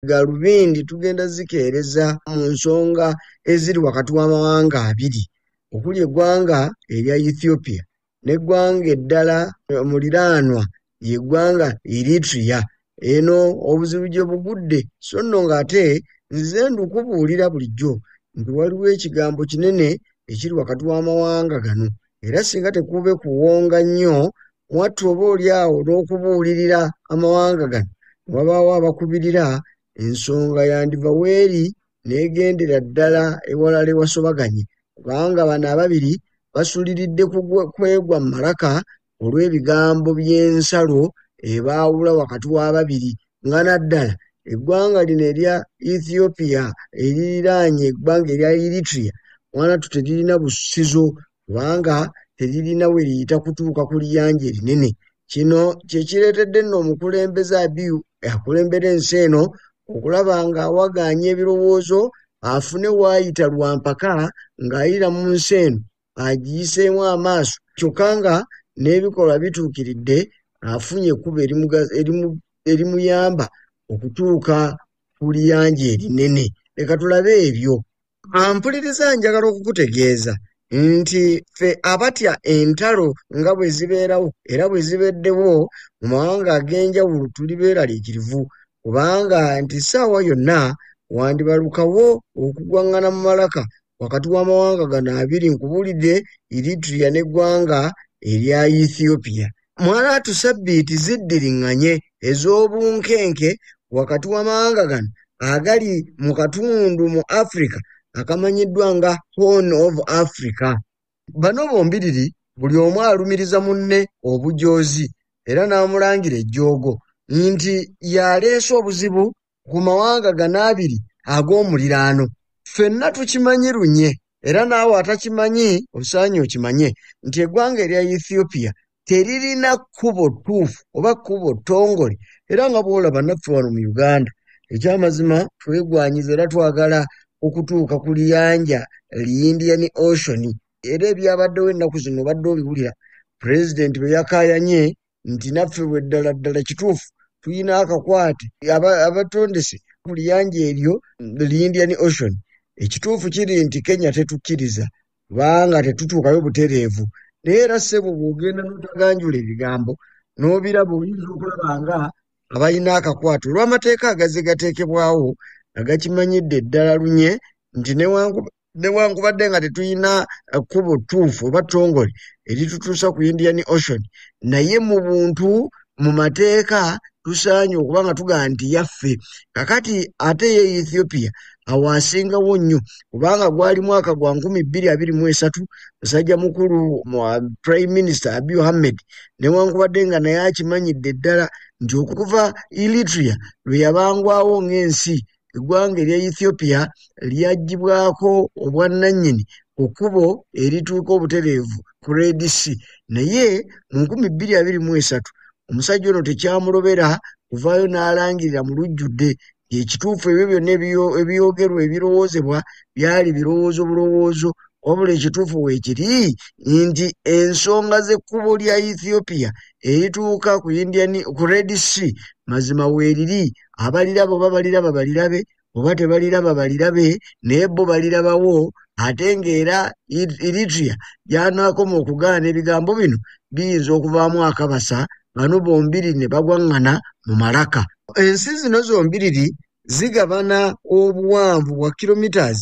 galubindi tugenda zikeereza mu nsonga eziri wakati w'amawanga abiri okuli eggwanga erya Ethiopia n'eggwanga eddala omuliraanwa yeggwanga Eritrea eno obuzibu gye bugudde so nno ng'ate nzize ndukubuulira bulijjo nti waliwo ekigambo kinene ekiri wakati w'amawanga gano era singa tekube kuwonga nnyo mwattu oba oli awo n'okubuulirira amawanga gano ne wabaawo abakubirira ensonga yandiva weeri n'egendera ddala ewalala ewasobaganye kubanga bano ababiri basuliridde kwegwa mu malaka olw'ebigambo by'ensalo ebaawula wakati w'ababiri nga naddala eggwanga lino erya ethiopia eririraanye eggwanga erya eritrea wanatu teririna busizo kubanga teririna we liyita kutuuka ku liyanja erinene kino kyekireetedde nno omukulembeze abiu akulembera ensi eno okulaba ng'awagaanya ebirowoozo afune waayita lwa mpaka ng'ayira mu nsi eno agiyiseemu amaaso kyokka nga n'ebikolwa bituukiridde afunye ekkubo erimuyamba okutuuka ku liyanja erinene leka tulabe ebyo ampuliriza njagala okukutegeeza nti ffe abatya entalo nga bwe zibeerawo era bwe zibeddewo mu mawanga ag'enjawulo tuli beeraliikirivu kubanga nti ssaawa yonna wandibalukawo okugwang'ana mu malaka wakati w'amawanga gano abiri nkubulidde Eritrea n'eggwanga erya Ethiopia. Mwalaatu ssabbiiti ziddiringanye ez'obunkenke wakati w'amawanga gano agali mu katundu mu Africa akamanyiddwa nga Horn of Africa. bano bombiriri buli omu alumiriza munne obujoozi era n'amulangira ejjoogo nti y'aleese obuzibu ku mawanga gano abiri ag'omuliraano ffenna tukimanyi lunye era naawe atakimanyi osaanye okimanye nti eggwanga erya ethiopia teririna kkubo ttuufu oba kkubo ttongole era nga bw'olaba naffe wano mu uganda ekyamazima twegwanyiza era twagala okutuuka ku liyanja li indian ocean era ebyabaddewo ennaku zino obadde obiwulira pulezidenti bwe yakaayanye nti naffe bwe ddala ddala kituufu tulina akakwate abatondese ku liyanja eryo li indian ocean ekituufu kiri nti kenya tetukkiriza kubanga tetutuukayo butereevu naye era ssebo bw'ogenda n'otaganjula ebigambo n'obiraba oyinza okulaba nga abalina akakwate olw'amateeka agazze gateekebwawo nga gakimanyidde ddala lunye nti newankubadde nga tetulina eh, kkubo ttuufu oba ttongole eritutuusa ku indian ocean naye mu buntu mu mateeka tusaanye okuba nga tugaa nti yaffe kakati ate ye ethiopia awo asingawo nnyo kubanga gwali mwaka gwa nkumi bbiri abiri mu esatu musajja mukulu prime minister abi ohammed newankubadde nga naye akimanyidde ddala nti okuva elitria lwe yabangwawo ng'ensi eggwanga erya ethiopia lyaggyibwako obwannannyini ku kkubo erituuka obutereevu ku redc naye mu 223 omusajja ono tekyamulobera kuvaayo n'alangirira mu lujjudde ekituufu ebyo byonna ebyogerwa ebirowoozebwa byali birowoozo bulowoozo wabula ekituufu weekiri nti ensonga z'ekkubo lya ethiopia erituuka ku indian ku red sea mazima weeriri abaliraba oba baliraba balirabe oba tebaliraba balirabe naye bo balirabawo ate ng'era eritria gyanaakoma okugaana ebigambo bino biyinza okuvaamu akabasa bano bombiri ne bagwaŋŋana mu malaka ensi zino zombiriri zigabana obuwanvu bwa kilometres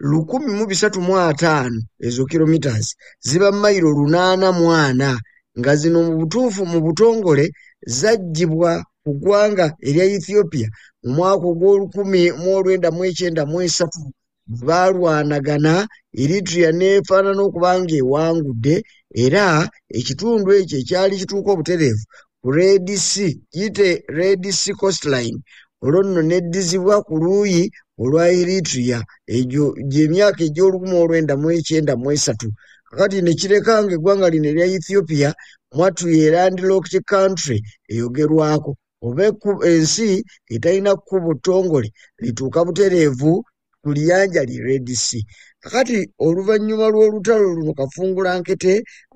lukumi mu bisatu mu ataano ezo kilometres ziba mayiro lunaana mu ana nga zino mu butuufu mu butongole zaggyibwa mu ggwanga erya ethiopia mu mwaka ogw'olukumi mu olwenda mu ekyenda mu esatu bwe baalwanagana eritria n'efaanana okuba ng'ewangudde era ekitundu ekyo ekyali kituuka obutereevu ku red c gite red c costline olwo nno neddizibwa ku luuyi olwa eritria egyo gy'emyaka egy'olukumi olwenda mu ekyenda mu esatu kakati nekireka nga eggwanga lino erya ethiopia mwattu ye landlocked country eyogerwako oba ensi etalina kkubo ttongole lituuka butereevu ku liyanja li red sea kakati oluvannyuma lw'olutalo luno kafungula nkete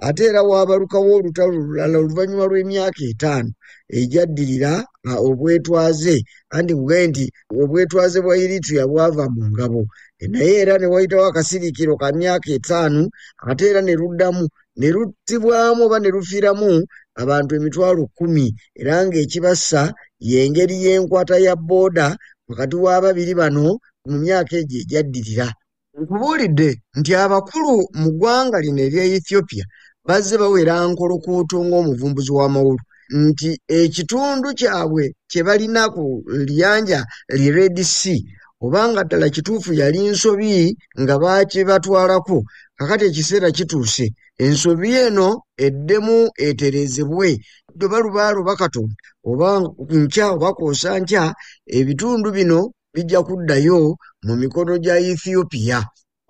ate era waabalukawo olutalo olulala oluvannyuma lw'emyaka etaano egyaddirira obwetwaze anti mugaye nti obwetwaze bwa eritrea bwava mu ngabo naye era ne wayitawo akasirikiro ka myaka etaano ate era ne luddamu ne luttibwamu oba ne lufiiramu abantu emitwalo kkumi era ng'ekibassa y'engeri y'enkwata ya booda wakati w'ababiri bano mu myaka egyo egyaddirira Nkubuulidde nti abakulu mu ggwanga lino erya Ethiopia bazze bawera nkolokuuto ng'omuvumbuzi w'amawulu nti ekitundu kyabwe kye balina ku liyanja li Red Sea oba nga ddala kituufu yali nsobi nga baakibatwalako kakati ekiseera kituuse ensobi eno eddemu eterezebwe ddoba lubaalo bakatonda oba nkya oba kwosa nkya ebitundu bino bijja kuddayo mu mikono gya Ethiopia.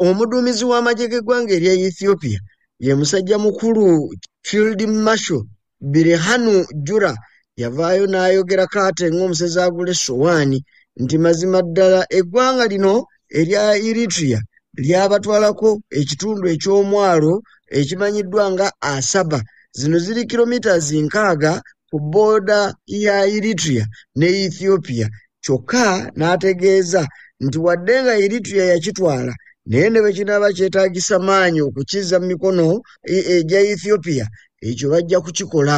Omuduumizi w'amagye g'eggwanga erya Ethiopia ye musajja mukulu Field Marshal Birhanu Jura yavaayo n'ayogera kaate ng'omusezi agula essowaani nti mazima ddala eggwanga lino erya Eritrea lyabatwalako ekitundu eky'omwalo ekimanyiddwa nga Asaba. Zino ziri kilomitas nkaaga ku booda ya Eritrea ne Ethiopia kyokka n'ategeeza nti wadde nga Eritrea yakitwala naye ne bwe kinaaba kyetaagisa maanyi okukizza mu mikono e, egya Ethiopia ekyo bajja kukikola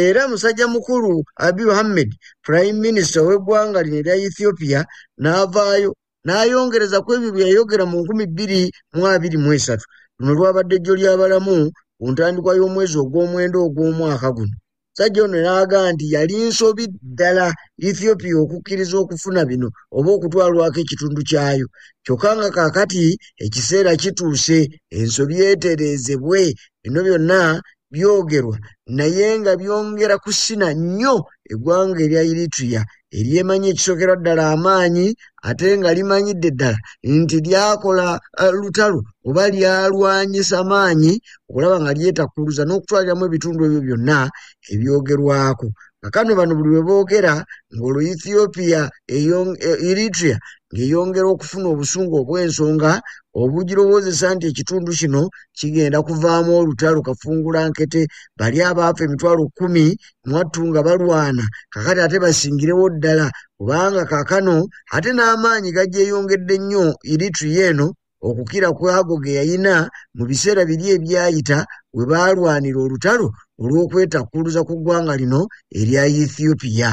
era musajja mukulu Abiy Ahmed prime minister w'eggwanga lino erya Ethiopia n'avaayo n'ayongereza ku ebyo bye yayogera mu nkumi bbiri mu abiri mu esatu luno lwabadde ejjo ly'abalamu ku ntandikwa y'omwezi ogw'omwenda ogw'omwaka guno sajja ono n'aga nti yali nsobi ddala ethiopia okukkiriza okufuna bino oba okutwalwako ekitundu kyayo kyokka nga kaakati ekiseera kituuse ensobi etereezebwe bino byonna byogerwa naye nga byongera kusina nnyo eggwanga erya eritrea eryemanyi ekisookerwa ddala amaanyi ate nga limanyidde ddala nti lyakola eh, lutalo oba lyalwanyisa maanyi okulaba nga lyetakkuluza n'okutwaliramu ebitundu ebyo byonna ebyogerwako kakano bano buli bwe boogera ng'olwo ethiopia e, eritrea ng'eyongera okufuna obusungu obw'ensonga obugirowozesa nti ekitundu kino kigenda kuvaamu olutalo kafungula nkete bali abaafa emitwalo kkumi mwattu nga balwana kakati ate basingirewo ddala kubanga kakano ate n'amaanyi gagyeyongedde nnyo eritrea eno okukira kw'ago ge yalina mu biseera biri ebyayita we baalwanira olutalo olw'okwetakkuluza ku ggwanga lino erya Ethiopia.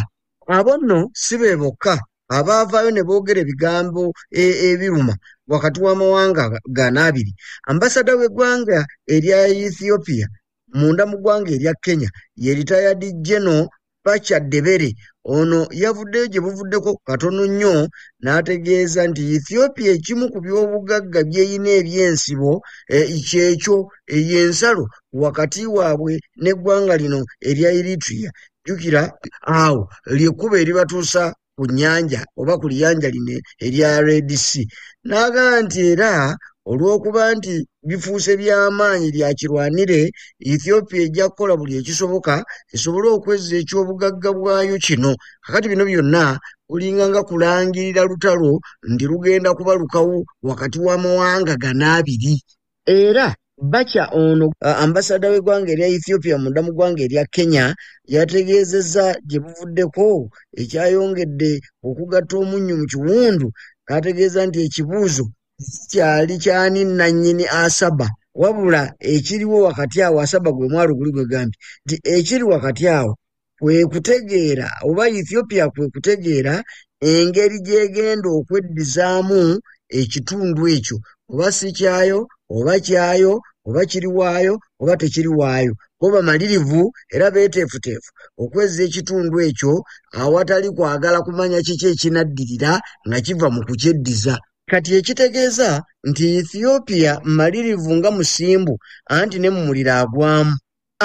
Abo nno si be bokka abaavaayo ne boogera ebigambo e, ebiruma wakati w'amawanga gano abiri. Ambasada w'eggwanga erya Ethiopia munda mu ggwanga erya kenya ye ritayadi geno pacha debere ono yavuddeyo gye buvuddeko katono nnyo n'ategeeza nti ethiopia ekimu ku by'obugagga byeyina ebyensibo eh, kyekyo eyensalo eh, wakati waabwe n'eggwanga lino erya eritria jjukira awo lyekkuba eribatuusa ku nnyanja oba ku liyanja lino erya red sea n'agamba nti era olw'okuba nti bifuuse by'amaanyi lya kirwanire ethiopia ejja kukola buli ekisoboka esobole okwezza eky'obugagga bwayo kino kakati bino byonna kulinga nga kulangirira lutalo nti lugenda kuba lukawo wakati w'amawanga gana abiri era bakya ono ambasada w'eggwanga erya ethiopia munda mu ggwanga erya kenya yategeezezza gye buvuddeko ekyayongedde okugatta omunnyo mu kiwundu kaategeeza nti ekibuuzo sikyali kyani nannyini asaba wabula ekiriwo wakati awo asaba gwe mwalo guli gwe gambi nti ekiri wakati awo kwe kutegeera oba ethiopia kwe kutegeera engeri gyegenda okweddizaamu ekitundu ekyo oba si kyayo oba kyayo oba kiri waayo oba tekiri waayo bo bamalirivu era beeteefuteefu okwezza ekitundu ekyo awatali kwagala kumanya kiki ekinaddirira nga kiva mu kukyeddiza kati ekitegeeza nti ethiopia malirivu nga musimbu anti ne mu muliro agwamu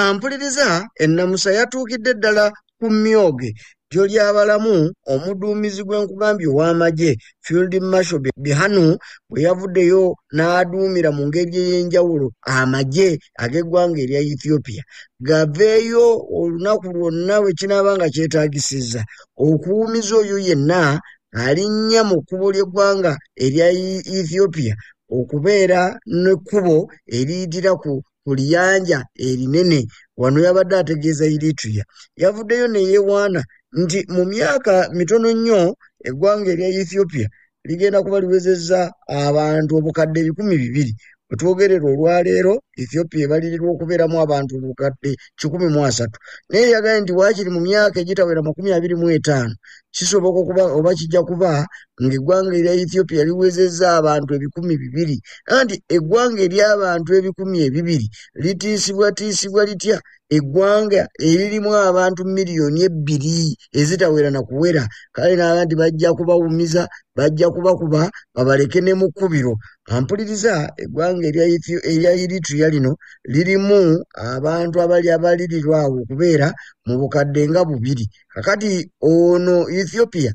ampuliriza ennamusa yatuukidde ddala ku myoge ddyo ly'abalamu omuduumizi gw'enkugambye ow'amagye field marshal bihanu bwe yavuddeyo n'aduumira mu ngeri ey'enjawulo amagye ag'eggwanga erya ethiopia gaveeyo olunaku lwonna bwe kinaaba nga kyetaagisizza okuwumiza oyo yenna alinnya mu kkubo ly'eggwanga erya ethiopia okubeera n'ekkubo eriyitira ku ku liyanja erinene wano yabadde ategeeza Eritrea yavuddeyo ne yeewaana nti mu myaka mitono nnyo eggwanga erya Ethiopia ligenda kuba liwezezza abantu obukadde ebikumi bibiri wetwogerera olwaleero ethiopia ebalirirwa okubeeramu abantu obukadde kikumi mu asatu naye yagaye nti waakiri mu myaka egitawera makumi abiri mu etaano kisoboka okuba oba kijja kuba ng'eggwanga erya ethiopia liwezezza abantu ebikumi bibiri anti eggwanga ery'abantu ebikumi ebibiri litiisibwatiisibwa litya eggwanga eririmu abantu miliyoni ebbiri ezitawera na kuwera kale naaba nti bajja kubawumiza bajja kubakuba babaleke ne mu kkubiro ampuliriza eggwanga erya eritria lino lirimu abantu abali abalirirwawo okubeera mu bukadde nga bubiri kakati ono ethiopia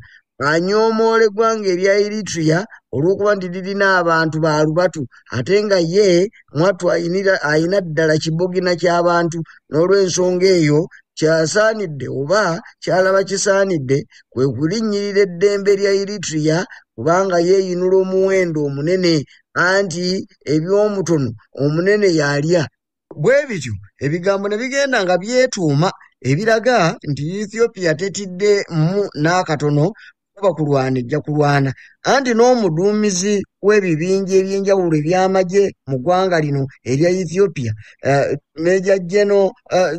anyoomoola eggwanga erya eritrea olw'okuba nti lirina abantu ba lubatu ate nga ye mwattu alina ddala kibogina ky'abantu n'olw'ensonga eyo kyasaanidde oba kyalaba kisaanidde kwe kulinnyirira eddembe lya eritrea kubanga yeeyinula omuwendo omunene anti eby'omutono omunene yalya Bwe bityo ebigambo ne bigenda nga byetuuma ebiraga nti Ethiopia tetiddemu n'akatono kuba kulwana ejja kulwana anti n'omuduumizi w'ebibinja eby'enjawulo eby'amagye mu ggwanga lino erya Ethiopia eh, Meja Geno eh,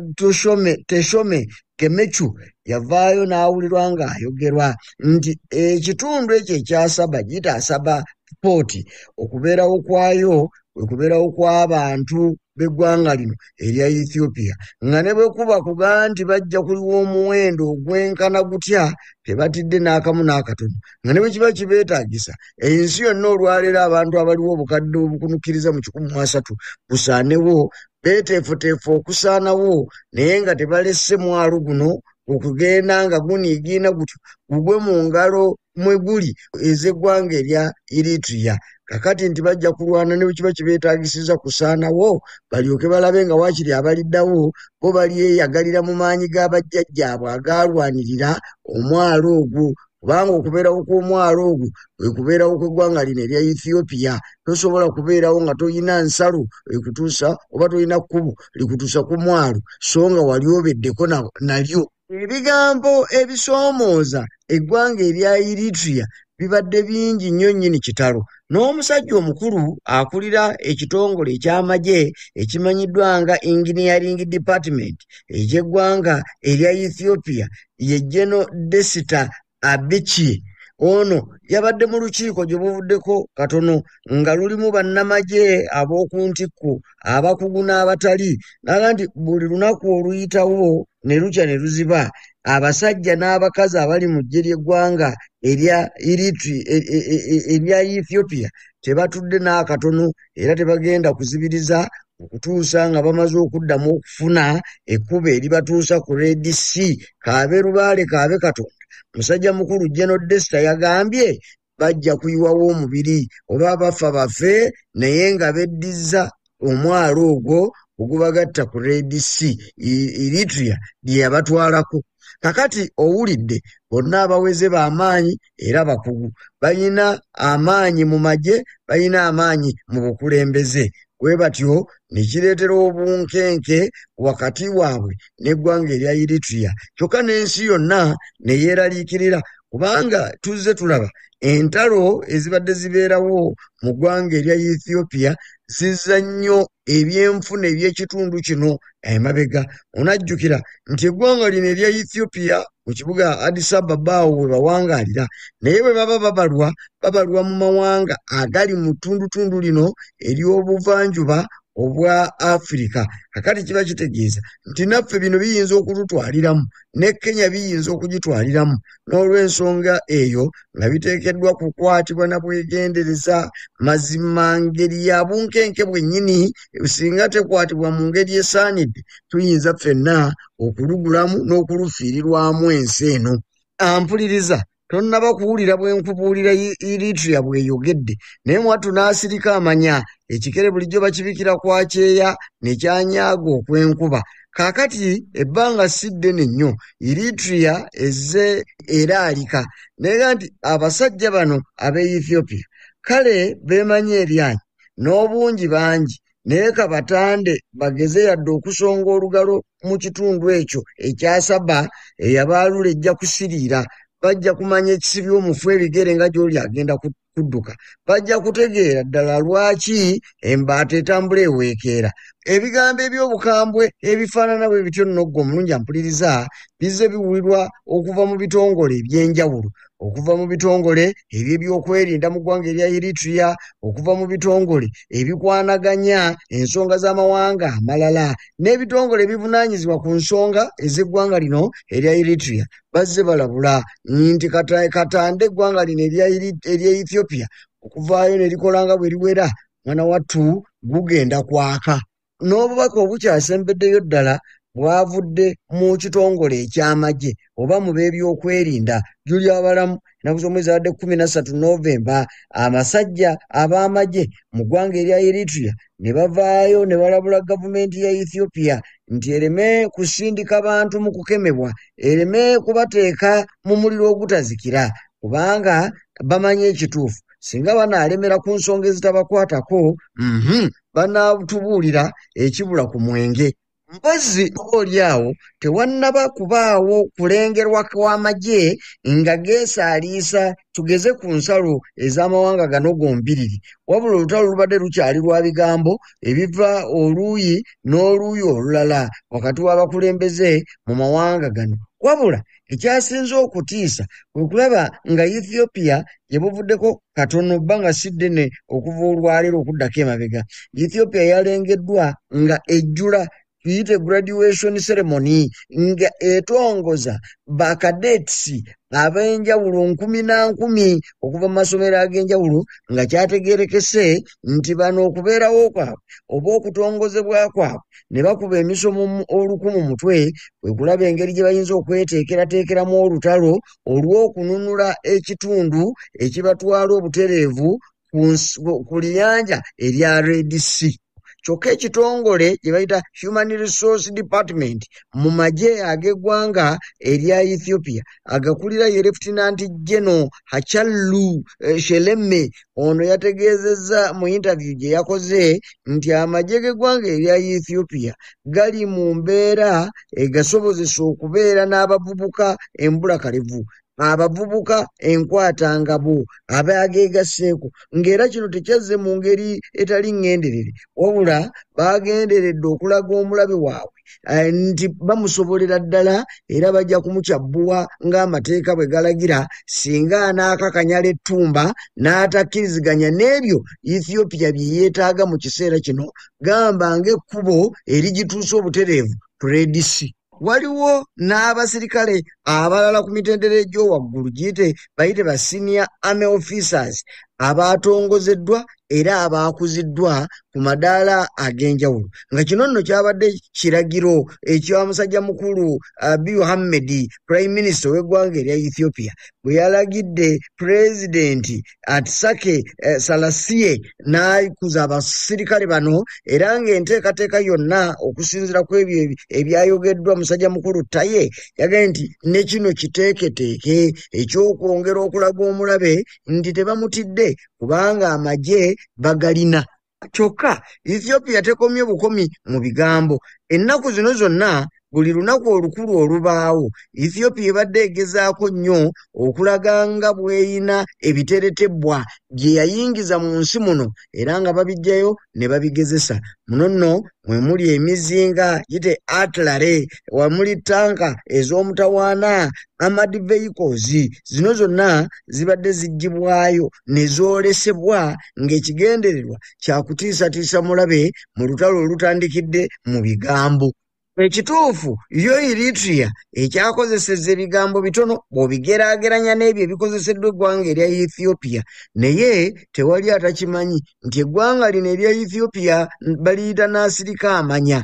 Teshome Gemechu yavaayo n'awulirwa ng'ayogerwa nti ekitundu ekyo ekyasaba gitaasaba sipooti okubeerawo kwayo kwe kubeerawo kw'abantu b'eggwanga lino erya ethiopia nga ne bwe kuba kuga nti bajja kuliwa omuwendo ogwenkana gutya tebatidde n'akamu n'akatono nga ne bwe kiba kibeetaagisa ensi yonna olwaleero abantu abaliwo obukadde obukunukkiriza mu kikumi mu asatu busaanewo beeteefuteefu okusaanawo naye nga tebalesse mwalo guno okugenda nga guniigiina gutyo gugwe mu ngalo mwe guli ez'eggwanga erya eritrea kakati nti bajja kulwana ne bwekiba kibeetagisiza kusaanawo balyoke balabe nga waakiri abaliddawo bo balyeyagalira mu maanyi ga bajjajjaabwe agaalwanirira omwalo ogwo kubanga okubeerawo kw'omwalo ogwo kwe kubeerawo kw'eggwanga lino erya ethiopia tosobola kubeerawo nga tolina nsalo ekutuusa oba tolina kkubo likutuusa ku mwalo so nga wali obeddeko nalyo Ebigambo ebisoomooza eggwanga erya Eritrea bibadde bingi nnyo nnyini kitalo n'omusajja omukulu akulira ekitongole eky'amagye ekimanyiddwa nga Engineering Department eky'eggwanga erya Ethiopia ye General Desta Abiki ono yabadde mu lukiiko gye buvuddeko katono nga lulimu bannamagye ab'oku ntikko abakugu n'abatali naga nti buli lunaku oluyitawo ne lukya ne luziba abasajja n'abakazi abali mu ggye ly'eggwanga erya e, e, e, Ethiopia tebatudde n'akatono era tebagenda kuzibiriza okutuusa nga bamaze okuddamu okufuna ekkubo eribatuusa ku red c kaabe lubaale kaabe katonda musajja mukulu geno desta yagambye bajja kuyiwawo omubiri oba abafa bafe naye nga beddizza omwalo ogwo ogubagatta ku red c eritrea lye yabatwalako kakati owulidde bonna abaweze ba maanyi era bakugu balina amaanyi mu magye balina amaanyi mu bukulembeze bwe batyo ne kireetera obunkenke wakati waabwe n'eggwanga erya eritrea kyokka n'ensi yonna ne yeeraliikirira kubanga tuzze tulaba entalo ezibadde zibeerawo mu ggwanga erya ethiopia zizza nnyo ebyenfuna eby'ekitundu kino emabega onajjukira nti eggwanga lino erya ethiopia mu kibuga addis ababa awo we bawangaalira naye bwe baba babalwa babalwa mu mawanga agali mu ttundutundu lino ery'obuvanjuba obwa afirika kakati kiba kitegeeza nti naffe bino biyinza okututwaliramu ne Kenya biyinza okugitwaliramu n'olw'ensonga eyo nga biteekeddwa kukwatibwa na bwegendereza mazima ngeri ya bunkenke bwennyini singa tekwatibwa mu ngeri esaanidde tuyinza ffenna okulugulamu n'okulufiirirwamu ensi eno ampuliriza tonnaba kuwulira bwe nkubuulira iritria bweyogedde naye mwattu n'asirika amanya ekikere bulijjo bakibikira kwa kyeya ne kyanyaaga okw'enkuba kaakati ebbanga si ddene nnyo iritria ezze eraalika naye nti abasajja bano ab'e ethiopia kale beemanyi eryanyi n'obungi bangi naye kabatande bageze yadde okusonga olugalo mu kitundu ekyo ekyasaba eyabaalula ejja kusiriira bajja kumanya ekisibi omufu ebigere nga gyoli agenda kudduka bajja kutegeera ddala lwaki embaata etambula eweekeera ebigambo eby'obukambwe ebifaanana bwe bityo nogga omulungi ampuliriza bizze biwulirwa okuva mu bitongole eby'enjawulo okuva mu bitongole eby'ebyokwerinda mu ggwanga erya eritrea okuva mu bitongole ebikwanaganya ensonga z'amawanga amalala n'ebitongole ebivunaanyizibwa ku nsonga ez'eggwanga lino erya eritrea bazze balabula nti katande eggwanga lino erya ethiopia okuvaayo ne likola nga bwe liwera mwana wattu gugenda kwaka n'obubaka obukyasembeddeyo ddala bwavudde mu kitongole eky'amagye oba mu b'ebyokwerinda juli abalamu enaku z'omwezibadde kumi nassatu novemba abasajja ab'amagye mu ggwanga erya eritrea ne bavaayo ne balabula gavumenti ya ethiopia nti ereme kusindika bantu mu kukemebwa ereme kubateeka mu muliro ogutazikira kubanga bamanyi ekituufu singa banaalemera ku nsonga ezitabakwatako mhm, banaatubuulira ekibula ku mwenge mpozi oli awo tewannaba kubaawo kulengerwa kw'amagye nga geesaaliisa tugeze ku nsalo ez'amawanga gano gombiriri wabula olutalo lubadde lukyali lwa bigambo ebiva oluuyi n'oluuyi olulala wakati w'abakulembeze mu mawanga gano wabula Ekyasinze okutiisa kwe kulaba nga Ethiopia gye buvuddeko katono bba nga si ddene okuva olwaleero okuddako emabega. Ethiopia yalengeddwa nga ejjula tuyite graduation ceremony nga etongoza ba cadets ab'enjawulo nkumi na nkumi okuva mu masomero ag'enjawulo nga kyategeerekese nti bano okubeerawo kwabwe oba okutongozebwa kwabwe ne bakuba emisomo oluku mu mutwe kwe kulaba engeri gye bayinza okweteekerateekeramu olutalo olw'okununula ekitundu ekibatwala obutereevu ku liyanja erya red sea kyokka ekitongole gye bayita human resource department mu magye ag'eggwanga erya ethiopia agakulira ye lefutinanti geno hachallu eh, sheleme Ono yategeezezza mu yintaviyu gye yakoze nti amagye g'eggwanga erya Ethiopia gali mu mbeera egasobozesa okubeera n'abavubuka embulakalevu abavubuka enkwata ngabo abaageegasseeko ng'era kino tekyazze mu ngeri etali ŋŋenderere wabula baagenderedde okulaga omulabe waabwe eh, nti bamusobolera ddala era bajja kumukyabbuwa ng'amateeka bwe galagira singa anaakakanyala ettumba n'atakkiriziganya n'ebyo ethiopia bye yeetaaga mu kiseera kino gamba ng'ekkubo erigituusa obutereevu predisi waliwo n'abasirikale abalala ku mitendera egy'owaggulu giyite bayite ba senior army officers abaatongozeddwa era abaakuziddwa ku madaala ag'enjawulo nga kino nno kyabadde kiragiro ekya musajja mukulu abi muhammedi prime minister ow'eggwanga erya ethiopia bwe yalagidde pulezidenti atisake eh, salasiye n'akuza abasirikale bano era ng'enteekateeka yonna okusinzira ku ebyo ebyayogeddwa musajja mukulu taye yagambye nti ne kino kiteeketeeke eky'okwongera okulaga omulabe nti tebamutidde kubanga amagye bagalina kyokka ethiopia tekomye bukomi mu bigambo ennaku zino zonna buli lunaku olukulu olubaawo ethiopia ebadde egezaako nnyo okulaga nga bweyina ebiteretebwa bye yayingiza mu nsi muno era nga babijjayo ne babigezesa muno nno mwe muli emizinga gite atlare wamuli tanka ez'omutawaana amad vehicles zino zonna zibadde ziggyibwayo ne zoolesebwa ng'ekigendererwa kyakutiisatiisa mulabe mu lutalo olutandikidde mu bigambo ekituufu yo eritria ekyakozeseza ebigambo bitono bw'obigeraageranya n'ebyo ebikozeseddwa eggwanga erya ethiopia naye tewali atakimanyi nti eggwanga lino erya Ethiopia baliyita n'asirika amanya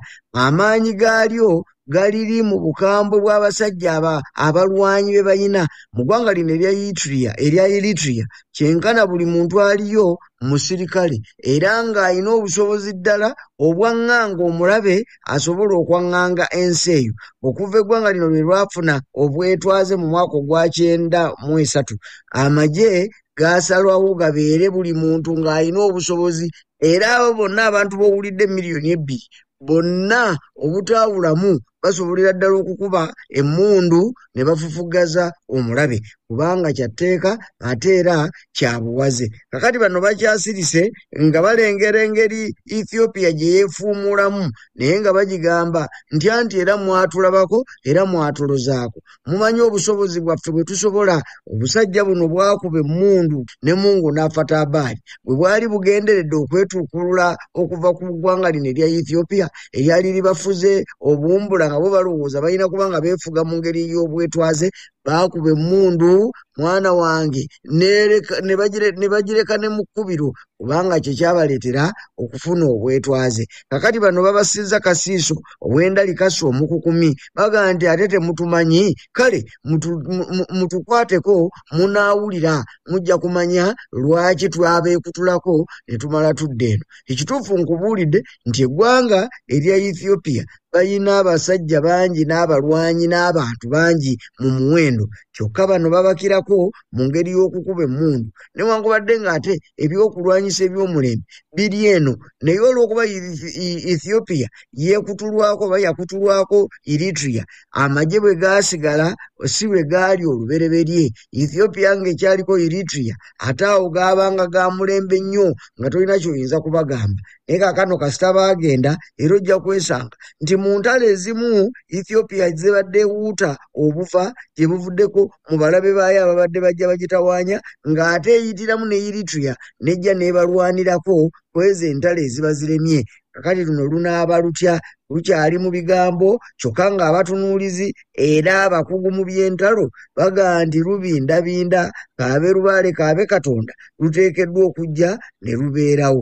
amaanyi gaalyo galiri mu bukambwe bw'abasajja aba abalwanyi be bayina mu ggwanga lino erya Eritrea erya Eritrea kyenkana buli muntu aliyo musirikale era ng'alina obusobozi ddala obwaŋŋanga omulabe asobola okwaŋŋanga ensi eyo okuva eggwanga lino lwe lwafuna obwetwaze mu mwaka ogwa kyenda mu esatu amagye gaasalwawo gabeere buli muntu ng'alina obusobozi era abo bonna abantu b'owulidde miliyoni ebbiri bonna obutaawulamu basobolera ddala okukuba emmundu ne bafufuggaza omulabe kubanga kya tteeka ate era kya buwaze kakati bano bakyasirise nga balengera engeri ethiopia gye yeefuumuulamu naye nga bagigamba nti anti era mwatulabako era mwatulozaako mumanyi obusobozi bwaffe bwe tusobola obusajja buno bwakuba emmundu ne mungu n'afatabaali bwe bwali bugenderedde okwetuukulula okuva ku ggwanga lino erya ethiopia eryali libafuze obuwumbula nga bo balowooza balina kuba nga beefuga mu ngeri ey'obwetwaze baakuba emmundu mwana wange ne bagireka ne mu kkubiro kubanga kye kyabaleetera okufuna obwetwaze kakati bano babasizza kasiiso obwendali kasa omukukumi bagaa nti ate temutumanyi kale mutukwateko munaawulira mujja kumanya lwaki twabeekutulako ne tumala tudde eno ekituufu nkubuulidde nti eggwanga erya ethiopia balina abasajja bangi n'abalwanyi n'abantu bangi mu muwendo kyokka bano babakirako mu ngeri y'okukuba emmundu newankubadde ng'ate ebyokulwanyisa ebyomulembe biri eno naye olw'okuba ethiopia yeekutulwako oba yakutulwako eritria amagye bwe gaasigala si bwe gaali olubereberye ethiopia ng'ekyaliko eritria ate awo gaabanga ga mulembe nnyo nga tolina kyoyinza kubagamba naye kakano kasita baagenda era ojja kwesanga nti mu ntalo ezimu ethiopia zibadde wuuta obuva gye buvuddeko mu balabe baayo ababadde bajja bagitawaanya ng'ate eyitiramu ne eritrea nejja n'ebalwanirako kwezo entalo eziba ziremye kakati luno lunaaba lutya lukyali mu bigambo kyokka ng'abatunuulizi era abakugu mu by'entalo bagaa nti lubindabinda kaabe lubaale kaabe katonda luteekeddwa okujja ne lubeerawo